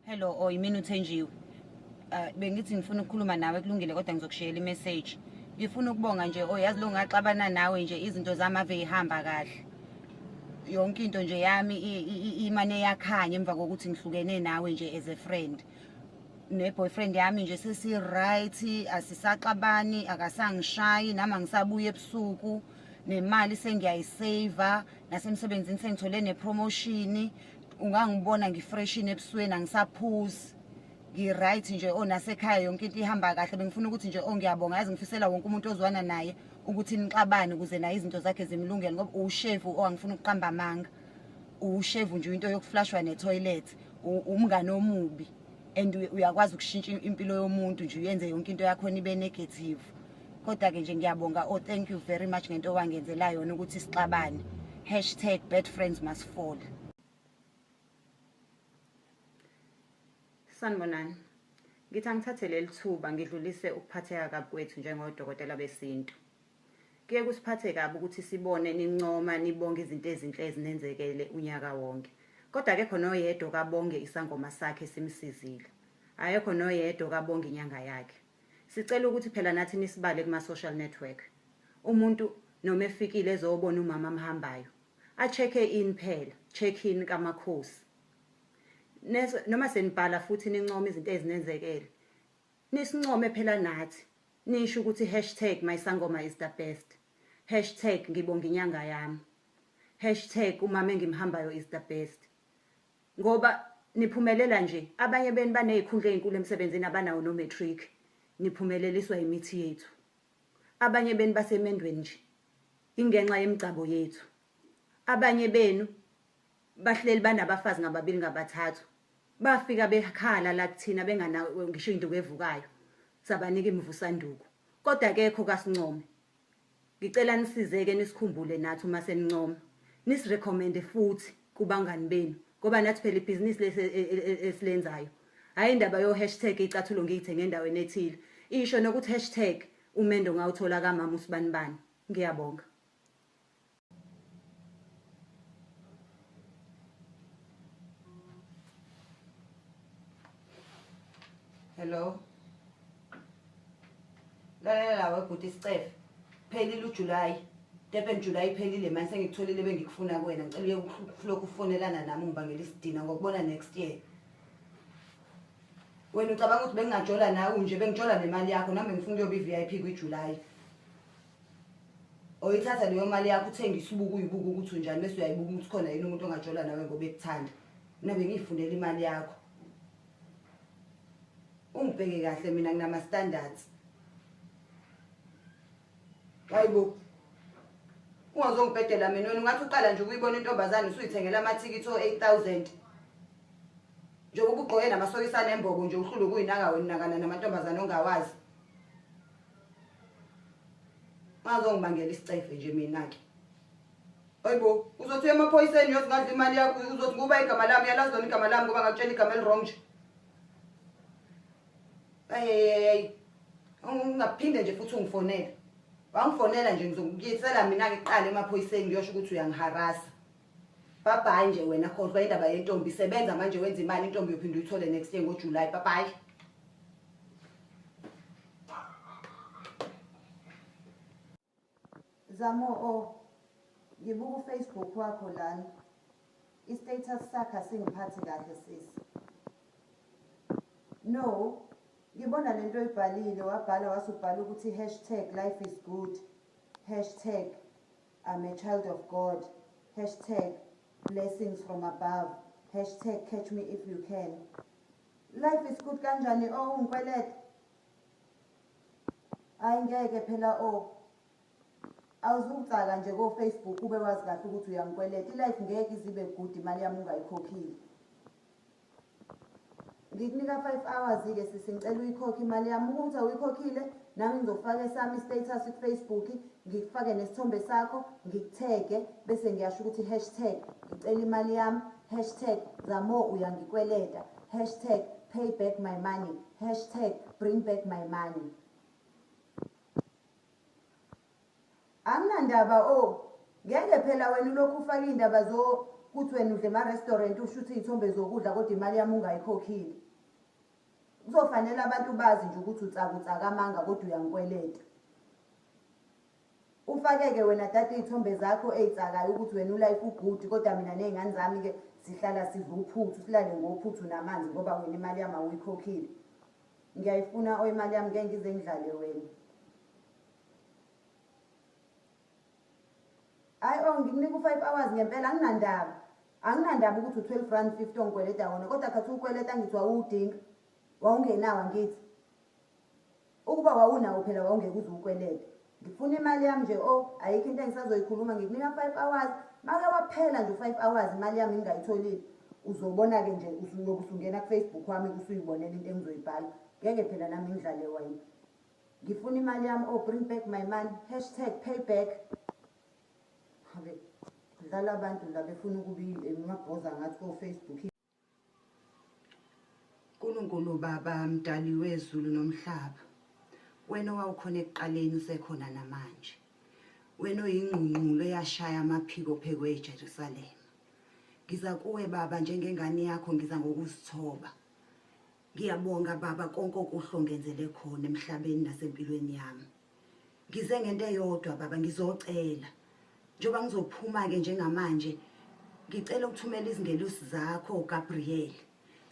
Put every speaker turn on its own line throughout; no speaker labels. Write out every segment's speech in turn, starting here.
Hello, oh yimina uthenjiwe. Uh, bengithi ngifuna ukukhuluma nawe kulungile kodwa ngizokushiyela imessage. Ngifuna ukubonga nje oh yazi lo ngaxabana nawe nje izinto zami ave ihamba kahle. Yonke into nje yami imane yakhanya emva kokuthi ngihlukene nawe nje as a friend. neboyfriend yami nje sesi-right asisaxabani akasangishayi nami angisabuye ebusuku nemali sengiyayiseva nasemsebenzini sengithole nepromotion ungangibona ngifreshini ebusweni angisaphuzi ngi-right nje o oh, nasekhaya yonke into ihamba kahle bengifuna ukuthi nje o oh, ngiyabonga yazi ngifisela wonke umuntu ozwana naye ukuthi nixabane ukuze naye izinto zakhe zimlungele ngoba uwushevu o oh, angifuna ukuqamba amanga uwushevu nje into yokuflashwa netoilet umngane omubi and uyakwazi ukushintsha impilo yomuntu nje uyenze yonke into yakhona ibe negative kodwa-ke nje ngiyabonga o oh, thank you very much ngento owangenzela yona ukuthi sixabane hashtag bad friends must fall sanibonani ngithi angithathe leli thuba ngidlulise ukuphatheka kabi kwethu njengodokotela besintu kuye kusiphathe kabi ukuthi sibone nincoma nibonge izinto ezinhle ezinenzekele unyaka wonke kodwa akekho noyedwa okabonge isangoma sakhe simsizile akekho noyedwa okabonge inyanga yakhe Sicela ukuthi phela nathi nisibale kuma social network. Umuntu noma efikile ezobona umama amhambayo. A check in phela, check in kamakhosi. Noma senibhala futhi nincoma izinto ezinenzekele. Nisincome phela nathi. Nisho ukuthi hashtag my sangoma is the best. Hashtag ngibonga inyanga yami. Hashtag umama engimhambayo is the best. ngoba niphumelela nje abanye benu banezikhundla ezinkulu emsebenzini abanawo no matric niphumeleliswa imithi yethu abanye benu basemendweni nje ingenxa yemigcabo yethu abanye benu bahleli banabafazi ngababili ngabathathu bafika bekhala la kuthina bengana ngisho induku evukayo sabanika imivusanduku kodwa kekho kasincome Ngicela nisizeke nisikhumbule nathi uma senincoma. Nisirecommende futhi kubangani benu ngoba nathi phela ibhizinisi lesi e, e, e, esilenzayo. Hhayi indaba yo-hashtag icathulo ngiyithenge endaweni ethile. Isho nokuthi hashtag umendo ngawuthola kamama usibanibani. Ngiyabonga. hello lalela lawe bhuti isicefe phelile ujulayi durban julayi iphelile mani sengikutholile bengikufuna kuwena ngicela uye kulokhu ufonelana nami ungibangela isidina ngokubona next year wena ucabanga ukuthi bengingajola nawe nje bengijola nemali yakho nami bengifuna ukuyoba i-v i p kwijulayi oyithatha leyo mali yakho uthengisa ubuku uyibuka ukuthi unjani bese uyayibuka ukuthi khona yini umuntu ongajola nawe ngoba ekuthanda mina bengiyifunela imali yakho ungibheke kahle mina nginama standards hayibo ungazongibhedela mina wena ungathi uqala nje ukuyibona intombazane usuyithengela amathikithi o-8000 njengoba ubugqoke namasokisane embobo nje uhlule ukuyinaka wena nakana namantombazane ongawazi ungazongibangela isicefe nje mina-ke Hayibo, uzothi emaphoyiseni uyosingadla imali yakho, uzothi kuba igama lami, yalazi lona igama lami ngoba ngakutshela igama elirong nje. Ayeyeyey. Ungaphinde nje futhi ungifonele. Wangifonela nje ngizokuyisela mina ngiqale emaphoyiseni ngiyosho ukuthi uyangiharasa. Bye bye nje wena khohlwa indaba yentombi sebenza manje wenza imali intombi yophinde uyithole next year ngoJuly. Bye bye. Zamo o ngibuka u Facebook wakho lana i status sakho asingiphathi kahle sisi. No ngibona lento oyibhalile wabhala wasubhala ukuthi hashtag life is good hashtag I'm a child of God hashtag blessings from above hashtag catch me if you can life is good kanjani o oh, ungikweleta Hayi ngeke phela o oh. awuzukucaka nje ko-facebook ube wazi kahle ukuthi uyangikweleta ilife ngeke izibe good imali yami ungayikhokhile ngikunika five hours-ke sisi ngicela uyikhokhe imali yami ukuthi awuyikhokhile nami ngizofaka esami i-status kufacebook ngikufake nesithombe sakho ngikuthege bese ngiyasho ukuthi i-hashtag ngicela imali yami Hashtag Zamo uyangikweleta. Hashtag pay back my money. Hashtag bring back my money. Anginandaba o oh, ngeke phela wena ulokhu ufaka iy'ndaba zokuthi
wena udle ema-restaurant usho ukuthi iy'thombe zokudla kodwa imali yami ungayikhokhile. Kuzofanele abantu bazi nje ukuthi utsakutsaka amanga kodwa uyangikweleta. Ufakeke wena tata iy'thombe zakho ey'tsakayo ukuthi wena ulayikha ubhuti kodwa mina ney'ngane zami-ke sihlala sidla uphuthu silale ngophuthu namanzi ngoba wena imali yami awuyikhokhile ngiyayifuna o imali yami ngeke ngize ngidlale wena hayi o oh, ngikunika u-five hours ngempela anginandaba anginandaba ukuthi u-twelve rand fifty ongikweleta wona kodwa khathi ukweleta ngithi wawuwudinga wawungenawo angithi Ukuba wawunawo phela wawungeke uze ukwelete. Ngifuna imali yami nje o, ayikho into engisazoyikhuluma ngikunika 5 hours. Make waphela nje 5 hours imali yami ngingayitholile. Uzobona ke nje usuyoku sungena ku Facebook wami usuyibonela into engizoyibhala. Ngeke phela nami ngidlale wena. Ngifuna imali yami o, bring back my money. Hashtag payback. Habe. Dlala abantu la befuna ukubili emabhoza ngathi ko Facebook.
Nkulunkulu Baba mdali wezulu nomhlaba wena owawukhona ekuqaleni usekhona namanje wena oyingqungqulo eyashaya amaphiko phekwe eJerusalema ngiza kuwe baba njengengane yakho ngiza ngokuzithoba ngiyabonga baba konke okuhle ongenzele khona emhlabeni nasempilweni yami ngize ngento eyodwa baba ngizocela njengoba ngizophuma-ke njengamanje ngicela ukuthumela izingelosi zakho gabriel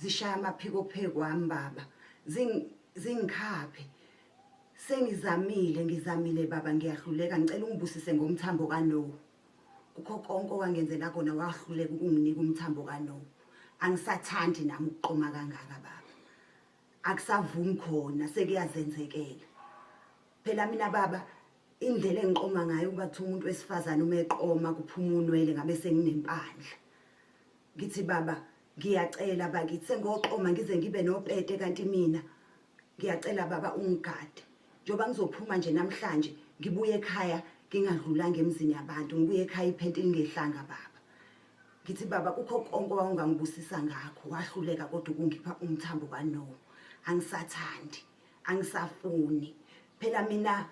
zishaya amaphiko phekwami baba zingikhaphe sengizamile ngizamile baba ngiyahluleka ngicela ungibusise ngomthambo kanowu kukho konke owangenzela kona wahluleka ukunginika umthambo kanowu angisathandi nami ukuqoma kangaka baba akusavumi khona sekuyazenzekela phela mina baba indlela engiqoma ngayo ukuba kuthiwa umuntu wesifazane uma eqoma kuphuma unwele ngabe senginempandla ngithi baba ngiyacela bakithi sengoqoma ngize ngibe nopete kanti mina ngiyacela baba ungigade njengoba ngizophuma nje namhlanje ngibuye ekhaya ngingadlulanga emzini yabantu ngibuye ekhaya iphenti lingehlanga baba ngithi baba kukho konke owawungangibusisa ngakho wahluleka kodwa ukungipha umthambo kano angisathandi angisafuni phela mina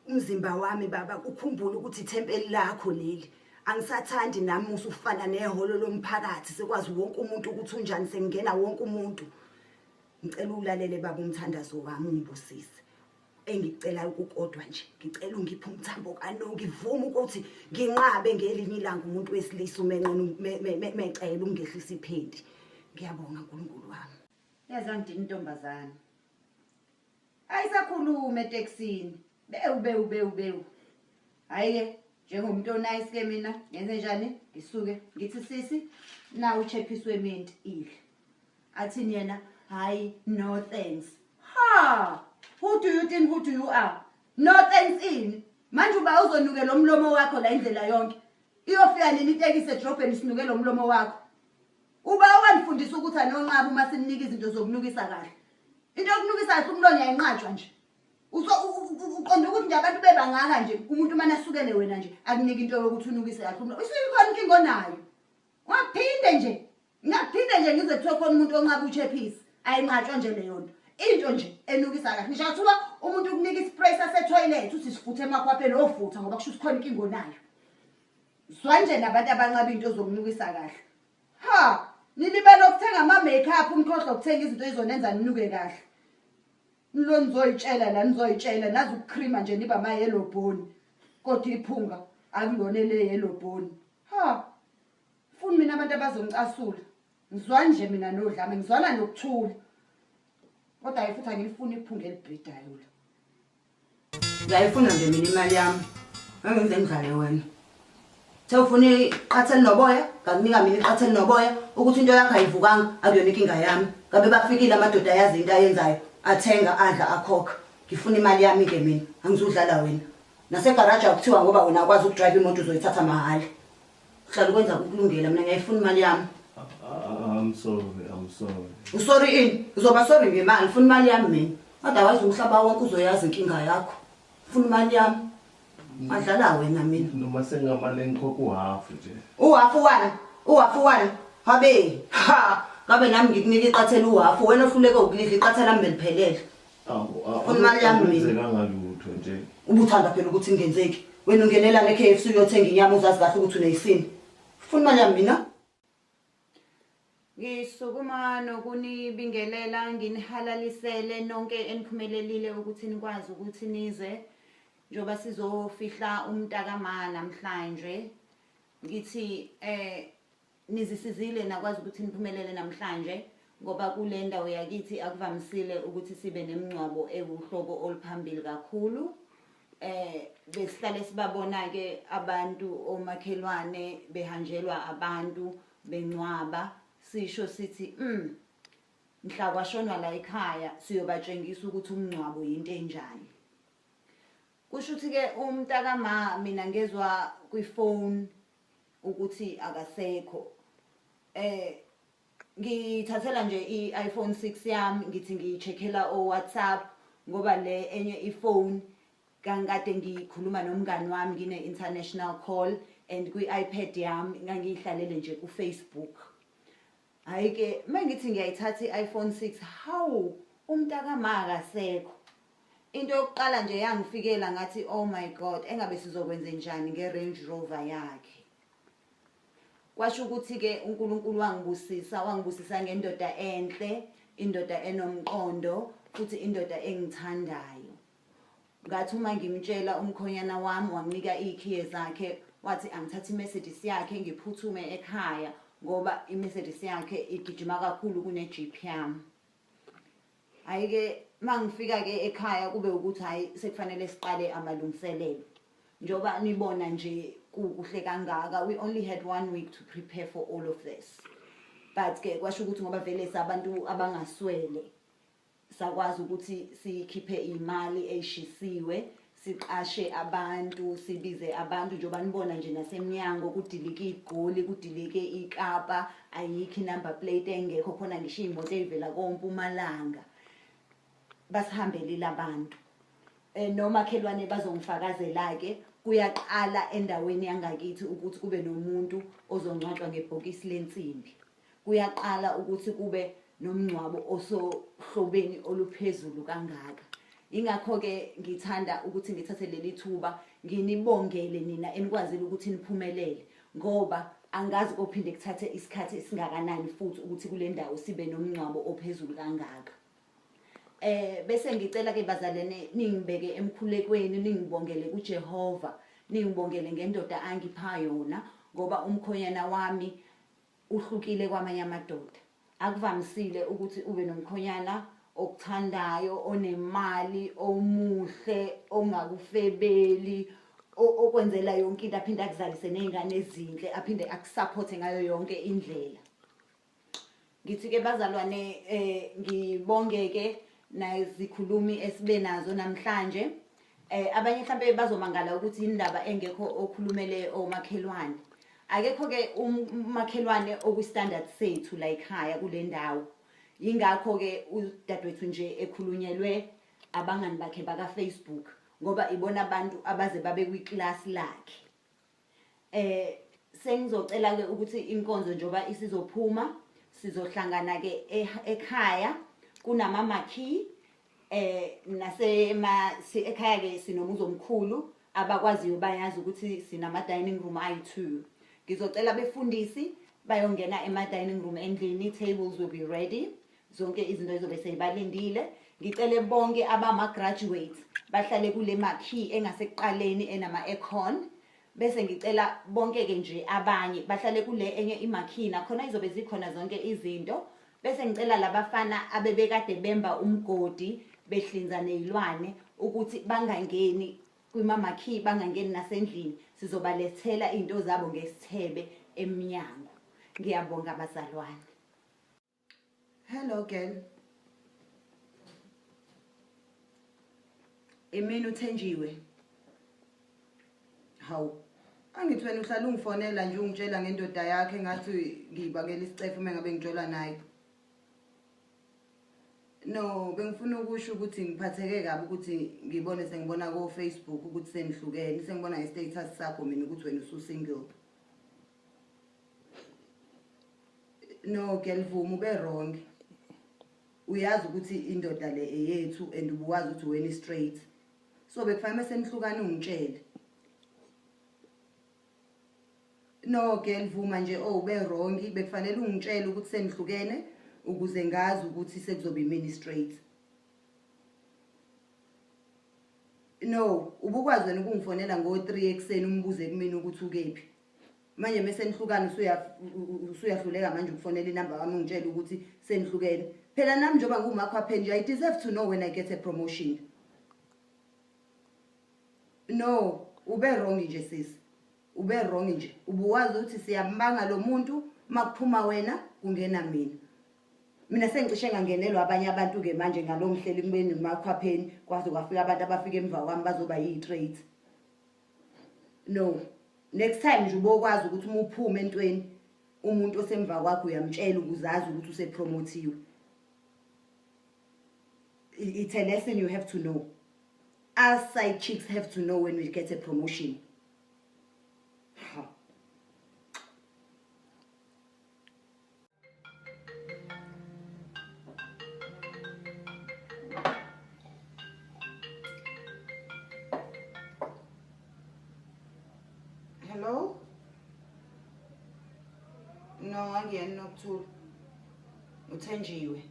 umzimba wami baba ukhumbula ukuthi ithempeli lakho leli angisathandi nami usufana nehholo lomphakathi sekwazi wonke umuntu ukuthi unjani sengingena wonke umuntu ngicela ulalele baba umthandazo wami ungibusise engikucelayo kukodwa nje ngicela ungiphe umthambo kanoki vuma ukuthi nginqabe ngelinye ilanga umuntu wesilisa umenqena mecela ungehlisa iphendi ngiyabonga nkulunkulu wami yazi angidini
intombazane ayisakhulume etekisini bewu bewu bewu bewu hhayi-ke njengomuntu onayisi-ke mina ngenze njani ngisuke ngithi sisi nawu uchephisi weminti idle Athini yena hayi no thanks. Ha! Who do you think who do you are? No thanks ini? Manje uba uzonuke lo mlomo wakho la indlela yonke. Iyofika nini itekisi edrobheni sinuke lo mlomo wakho? Uba owandifundisa ukuthi anonqaba uma simnika izinto zokunukisa kahle. Into yokunukisa kahle umlomo yayinqatshwa nje. Uso uqonda ukuthi nje abantu bebangaka nje umuntu uma nasukele wena nje akunike into yokuthi unukise kahle umlomo. Usuyikhona inkinga onayo. Waphinde nje Ngiyaphinde nje ngize kuthiwe khona umuntu onqaba uchephisi ayinqatshwa nje leyo nto into nje enukisa kahle ngisho kuthiwa umuntu ukunika ispray sasethoyilethi uthi sifuthe emakhwapheni ofutha ngoba kusho ukuthi khona inkinga onayo zwa nje nabantu abanqaba into zokunukisa kahle ha nilibele ukuthenga ama-makeup umkhohlwa ukuthenga izinto ezonenza ninuke kahle nilo nizoyitshela la nizoyitshela nazi ukuchrima nje niba mayelobhoni kodwa iphunga akulona eleyelobhoni ha Funi mina abantu abazongicasula. Ngizwani nje mina nodlame, ngizwana nokuthula. Kodwa hayi futhi angilifuni iphunga elibhidayo la. Ngiyayifuna nje mina imali yami. Angenze ngidlale wena. Sewufuna iqatha elinoboya, ngakunika mina iqatha elinoboya ukuthi into yakho ayivukanga akuyona inkinga yami. Ngabe bafikile amadoda ayazi into ayenzayo, athenga adla akhokha. Ngifuna imali yami ke mina, angizudlala wena. Nasegaraji akuthiwa ngoba wena akwazi ukudrive imoto uzoyithatha mahhala. uhlala ukwenza kukulungela mina ngiyayifuna imali yami ah, I'm
sorry, I'm sorry. Usorry
ini? Uzoba sorry ngemali, funa imali yami mina. Otherwise umhlaba wonke uzoyazi inkinga yakho. Funa imali yami. Adlala wena mina. Noma sengamali
engikhokha uhafu nje. Uhafu wani?
Uhafu wani? Habe. Ha. Ngabe nami ngikunike iqathela uhafu wena ohluleke ukulidla iqathela mbe liphelele. Funa imali yami mina. Akwenzekanga
lutho nje. Ubuthanda phela ukuthi
kungenzeki. Wena ungenela ne-KFC uyothenga inyama uzazi kahle ukuthi uneyisini. Funa imali yami mina.
Ngisukuma nokunibingelela nginihalalisele nonke eniphumelelile ukuthi nikwazi ukuthi nize njengoba sizofihla umntakama namhlanje ngithi eh Nizisizile nakwazi ukuthi niphumelele namhlanje ngoba kule ndawo yakithi akuvamisile ukuthi sibe nemngcwabo ewuhlobo oluphambili kakhulu eh besihlale sibabona ke abantu omakhelwane behanjelwa abantu bencwaba sisho sithi mm mhla kwashonwa la ekhaya siyobatshengisa ukuthi umngcwabo yinto enjani kusho ukuthi ke umntaka ma mina ngezwa kwi phone ukuthi akasekho eh ngithathela nje i-iPhone 6 yami ngithi ngiyicheckela o WhatsApp ngoba le enye ifone kangikade ngikhuluma nomngani wami ngine international call and kwi-iPad yami ngangiyihlalele nje ku-Facebook Hayi ke mengithi ngiyayithatha iPhone 6 hawu umntakama akasekho. Into yokuqala nje yangifikela ngathi oh my god engabe sizokwenze njani ngeRange Rover yakhe. Kwasho ukuthi ke uNkulunkulu wangibusisa wangibusisa ngendoda enhle, indoda enomqondo futhi indoda engithandayo. ngathi uma ngimtshela umkhonyana wami wanginika iy'khiye zakhe wathi angithathe imercedes yakhe ngiphuthume ekhaya ngoba imercedes yakhe igijima kakhulu kune-jeep yami hhayi-ke uma ngifika-ke ekhaya kube ukuthi hhayi sekufanele siqale amalungiselelo njengoba nibona nje kukuhle kangaka we only had one week to prepare for all of this but-ke kwasho ukuthi ngoba vele sabantu abangaswele sakwazi ukuthi sikhiphe imali eyishisiwe siqashe abantu sibize abantu njengoba nibona nje nasemnyango kudilike igoli kudilike ikapa ayikho inumber plate engekho khona ngisho iy'moto ey'vela kompumalanga basihambelile abantu um nomakhelwane bazongifakazela-ke kuyaqala endaweni yangakithi ukuthi kube nomuntu ozongcwatshwa ngebhokisi lensimbi kuyaqala ukuthi kube nomngcwabo osohlobeni oluphezulu kangaka ingakho-ke ngithanda ukuthi ngithathe leli thuba nginibongele nina enikwazile ukuthi niphumelele ngoba angazi kophinde kuthathe isikhathi esingakanani futhi ukuthi kule ndawo sibe nomngcwabo ophezulu kangaka eh bese ngicela ke bazalene ningibeke emkhulekweni ningibongele kuJehova ningibongele ngendoda angipha yona ngoba umkhonyana wami Uhlukile kwamanye amadoda. Akuvamisile ukuthi ube nomkhonyana okuthandayo, onemali, omuhle, ongakufebeli, okwenzela yonke into aphinde akuzalise nezingane ezinhle aphinde akusupporte ngayo yonke indlela ngithi ke bazalwane eh ngibongeke nazikhulumi esibe nazo namhlanje Eh abanye mhlambe bazomangala ukuthi indaba engekho okhulumele omakhelwane. Akekho ke umakhelwane oku standard sethu la ekhaya kule ndawo. Ingakho ke udadewethu nje ekhulunyelwe abangani bakhe baka Facebook ngoba ibona abantu abaze babe kwi class lakhe. Eh sengizocela ke ukuthi inkonzo njoba isizophuma sizohlangana ke e, ekhaya kunama makey eh nase ma si ekhaya ke sinomuzi omkhulu abakwaziyo bayazi ukuthi sinama dining room ayi2 ngizocela befundisi bayongena ema dining room endlini tables will be ready zonke izinto ezobe seyibalindile ngicele bonke abama-graduates bahlale kule makhi engasekuqaleni enama-econ bese ngicela bonke-ke nje abanye bahlale kule enye imakhi nakhona izobe zikhona zonke izinto bese ngicela labafana abebekade bemba umgodi behlinza nezilwane ukuthi bangangeni kwimamakhi bangangeni nasendlini sizobalethela izinto zabo ngesithebe emnyango ngiyabonga bazalwane
Hello girl. Imini uthenjiwe. Hawu. Angithi wena uhlala ungifonela nje ungitshela ngendoda yakhe ngathi ngiyibakela isicefe uma ngabe ngitshola naye. No, bengifuna ukusho ukuthi ngiphatheke kabi ukuthi ngibone sengibona ko Facebook ukuthi senihlukene, sengibona nge status sakho mina ukuthi wena usu single. no ngiyalivuma ube wrong uyazi ukuthi indoda le eyethu and ubuwazi ukuthi weni straight so bekufanele senihlukane ungitshele no ke ngivuma nje oh ube wrong bekufanele ungitshele ukuthi senihlukene ukuze ngazi ukuthi sekuzoba imini straight no ubukwazi wena ukungifonela ngo-3 ekuseni umbuze kumina ukuthi ukephi manje mese nihlukana usuyahluleka manje ukufonela inamba wami ungitshela ukuthi senihlukene phela nami njengoba ngumakho aphenje i deserve to know when i get a promotion no ube wrong nje sisi ube wrong nje ubuwazi ukuthi siyambanga lo muntu makuphuma wena kungena mina mina sengicishe ngangenelwa abanye abantu-ke manje ngalo mhleli kubeni ngumakhwapheni kwaze kwafika abantu abafika emva kwami bazoba yi-trade no next time nje ubokwazi ukuthi uma uphume entweni umuntu osemva kwakho uyamtshela ukuzazi ukuthi usepromothiwe it's a lesson you have to know us side chicks have to know when we get a promotion
Hello? No, angiyena nokuthula. Uthenjiwe.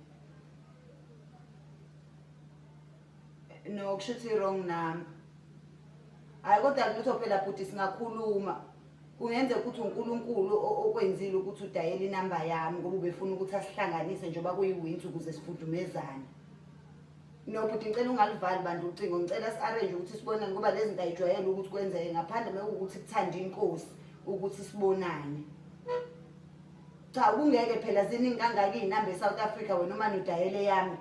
no kusho ukuthi wrong number hayi kodwa lutho phela bhuti singakhuluma kungenzeka ukuthi unkulunkulu okwenzile ukuthi udayele inamba yami ngoba ubefuna ukuthi asihlanganise njengoba kuyiwinsi ukuze sifudumezane no bhuti ngicela ungalivali bantu ucingo ngicela si-arrange ukuthi sibonane ngoba lezi nto ayijwayele ukuthi kwenzeke ngaphandle mekuwukuthi kuthanda inkosi ukuthi sibonane cha kungeke phela ziningi kangaka iy'namba e-south africa wena uma nidayele yami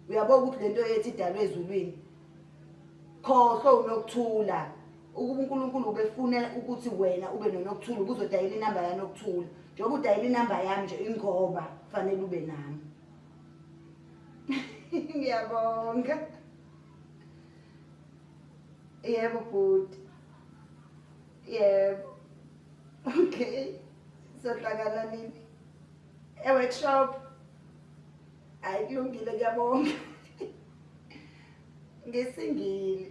uyabona ukuthi lento ethi idalwe ezulwini khohlwe unokuthula ukuba uNkulunkulu ubefuna ukuthi wena ube nonokuthula ubuzodayela inamba yanokuthula njengoba udayela inamba yami nje ingoba kufanele ube nami ngiyabonga yebo bhuti yebo okay sohlangana nini eworkshop hayi kulungile kuyabonga ngisingile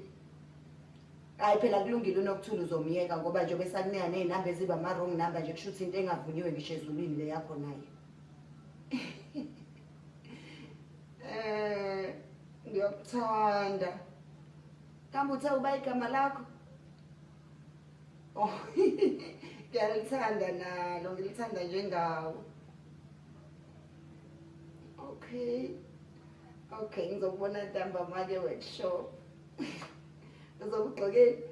hayi phela kulungile unokuthula uzomyeka ngoba njengoba esakunika ney'namba eziba ama-wrong number nje kusho ukuthi into engavunyiwe ngisho ezulwini le yakho naye um ngiyokuthanda kambe uthe uba igama lakho oh ngiyalithanda nalo ngilithanda njengawo okay okay ngizokubona ntambama-ke workshop uzokugqokeni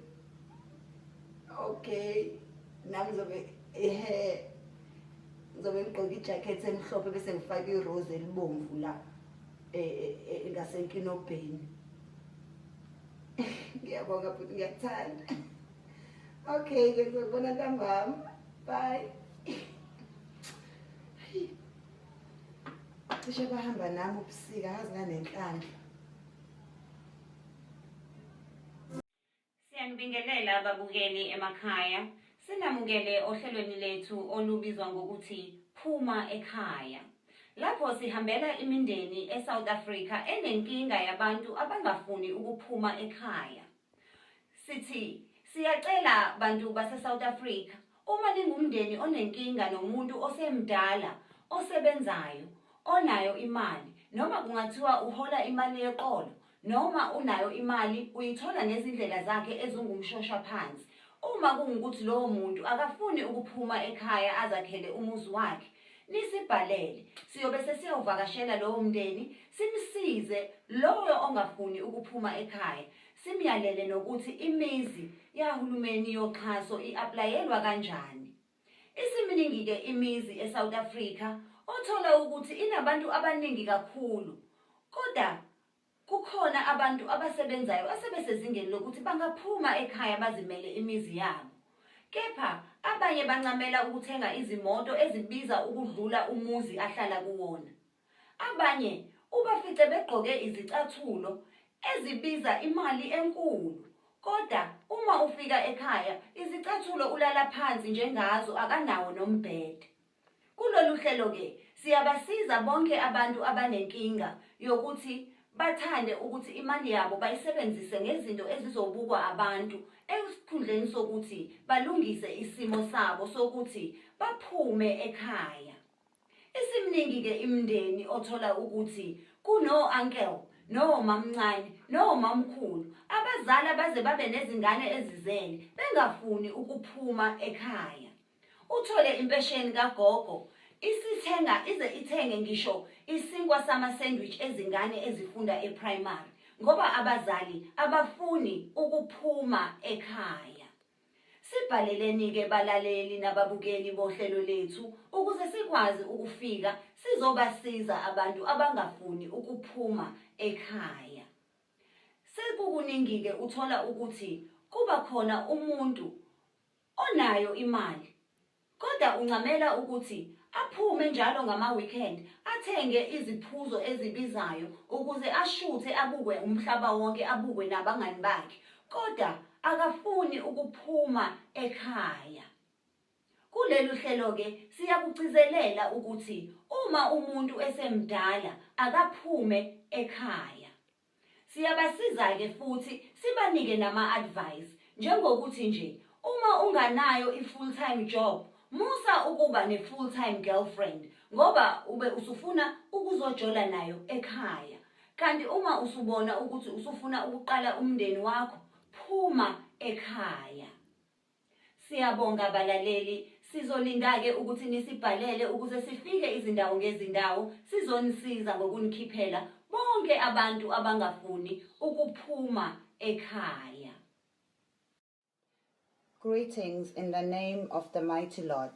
okay nami ngizobe ehe ngizobe ngigqoke ijakhethi emhlophe bese ngifake irose elibomvu la e, e, e, ngasenkinobheni ngiyabonga futhi ngiyakuthanda okay ke ngizokubona ntambama bye cishe bahamba nami ubusika kazi nanenhlanhla
siyanibingelela ababukeli emakhaya sinamukele ohlelweni lethu olubizwa ngokuthi phuma ekhaya lapho sihambela imindeni esouth africa enenkinga yabantu abangafuni ukuphuma ekhaya Sithi siyacela bantu base South Africa uma ningumndeni onenkinga nomuntu osemdala osebenzayo onayo imali noma kungathiwa uhola imali yeqolo noma unayo imali uyithola ngezindlela zakhe ezingumshosha phansi uma kungukuthi lowo muntu akafuni ukuphuma ekhaya azakhele umuzi wakhe nisibhalele siyobe sesiyovakashela lowo mndeni simsize lowo ongafuni ukuphuma ekhaya simyalele nokuthi imizi yahulumeni yoxhaso i-aplayelwa kanjani isiminingi-ke imizi esouth africa othola ukuthi inabantu abaningi kakhulu kodwa Kukhona abantu abasebenzayo asebesezingeni lokuthi bangaphuma ekhaya bazimele imizi yabo. Kepha abanye bancamela ukuthenga izimoto ezibiza ukudlula umuzi ahlala kuwona. Abanye ubafice begqoke izicathulo ezibiza imali enkulu koda uma ufika ekhaya izicathulo ulala phansi nje ngazo akanawo nombhede. Kulolu hlelo-ke siyabasiza bonke abantu abanenkinga yokuthi bathande ukuthi imali yabo bayisebenzise ngezinto ezizobukwa abantu esikhundleni sokuthi balungise isimo sabo sokuthi baphume ekhaya. Isimningi-ke imndeni othola ukuthi kuno-uncle nomamncane nomamkhulu abazali abaze babe nezingane ezizele bengafuni ukuphuma ekhaya. Uthole impesheni kagogo isithenga ize ithenge ngisho isinkwa sama-sandwich ezingane ezifunda eprimary ngoba abazali abafuni ukuphuma ekhaya. Sibhaleleni-ke balaleli nababukeli bohlelo lethu ukuze sikwazi ukufika sizobasiza abantu abangafuni ukuphuma ekhaya. Sekukuningi-ke uthola ukuthi kuba khona umuntu Onayo imali kodwa uncamela ukuthi aphume njalo ngama-weekend athenge iziphuzo ezibizayo ukuze ashuthe abukwe umhlaba wonke abukwe nabangani bakhe kodwa akafuni ukuphuma ekhaya. Kulelu hlelo-ke siyakugcizelela ukuthi uma umuntu esemdala akaphume ekhaya. Siyabasiza-ke futhi sibanike nama-advice njengokuthi nje uma unganayo i-full time job musa ukuba ne-full time girlfriend ngoba ube usufuna ukuzojola nayo ekhaya kanti uma usubona ukuthi usufuna ukuqala umndeni wakho phuma ekhaya Siyabonga balaleli, sizolinda-ke ukuthi nisibhalele ukuze sifike izindawo ngezindawo sizonisiza ngokunikhiphela bonke abantu abangafuni ukuphuma ekhaya.
Greetings in the name of the mighty Lord.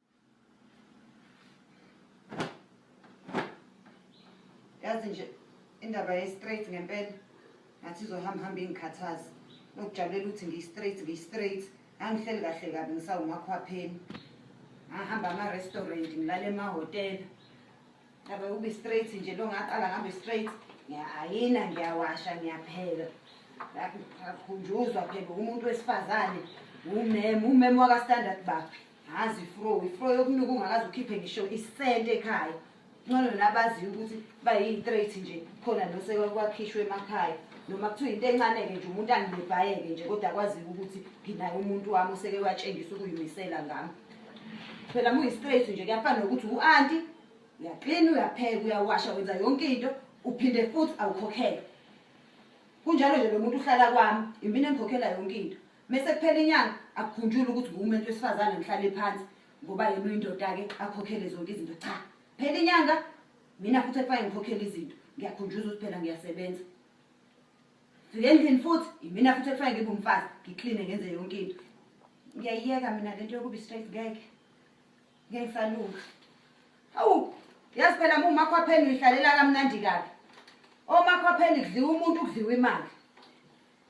yazi nje indaba ye-straight ngempela ngathi izohamba hamba ingikhathazi nokujabulela ukuthi ngiyi-straight ngiyi-straight angihleli kahle kabi ngisawumakhwapheni ngahamba ama-restaurant ngilala emahhotela abe ube straight nje lo ngaqala ngambe straight ngiyayina ngiyawasha ngiyapheka akhunjuzwa phela umuntu wesifazane umem umem wakastandard baphi ngazi ifro ifro yokunuka ungakaze ukhiphe ngisho isente ekhaya ncono nabaziyo ukuthi bayi-straight nje khona nosekwakhishwa emakhaya noma kuthiwa into encane-ke nje umuntu angibebhayeke nje kodwa kwaziyo ukuthi nginaye umuntu wami oseke watshengisa ukuyimisela ngami phela muyi-straight nje kuyafana nokuthi u-anti uyaklina uyapheka uyawasha wenza yonke into uphinde futhi awukhokhele kunjalo nje lo muntu uhlala kwami impini engikhokhela yonke into mese kuphela inyanga akukhunjule ukuthi ngumuntu wesifazane ngihlale phansi ngoba yena uyindoda-ke akhokhele zonke izinto cha phela inyanga mina futhi ekufanele ngikhokhele izinto ngiyakhunjuza ukuthi phela ngiyasebenza fike endlini futhi imina futhi ekufanele ngibe umfazi ngikline ngenze yonke into ngiyayiyeka mina le nto yokuba i-straight ngeke ngeke ngisalunga hawu yazi phela ma umakhwapheni uyihlalela kamnandi kabi omakhwapheni kudliwa umuntu kudliwa imali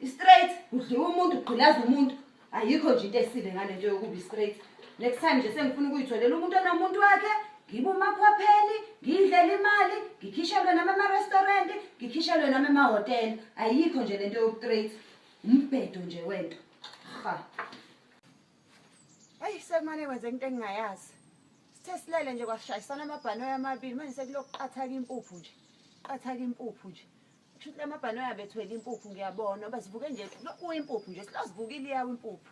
istraight udliwa umuntu ugqilaza umuntu ayikho nje into esile ngale nto yokuba istraight next time nje sengifuna ukuyitholela umuntu onomuntu wakhe ngibe umakhwapheli ngiyidlela imali ngikhishelwe nami emarestaurant ngikhishelwe nami emahhotela ayikho nje le nto yokutrate umbhedo nje wento ha ayi sekumane kwenze into engingayazi sithe silele nje kwashayisana amabhanoyi amabili manje sekulokuqathaka impuphu nje qathaka impuphu nje Kushuthi lamabhanoyi abethwele impuphu ngiyabona uba zivuke nje kuyimpuphu nje silozivukile iyawo impuphu.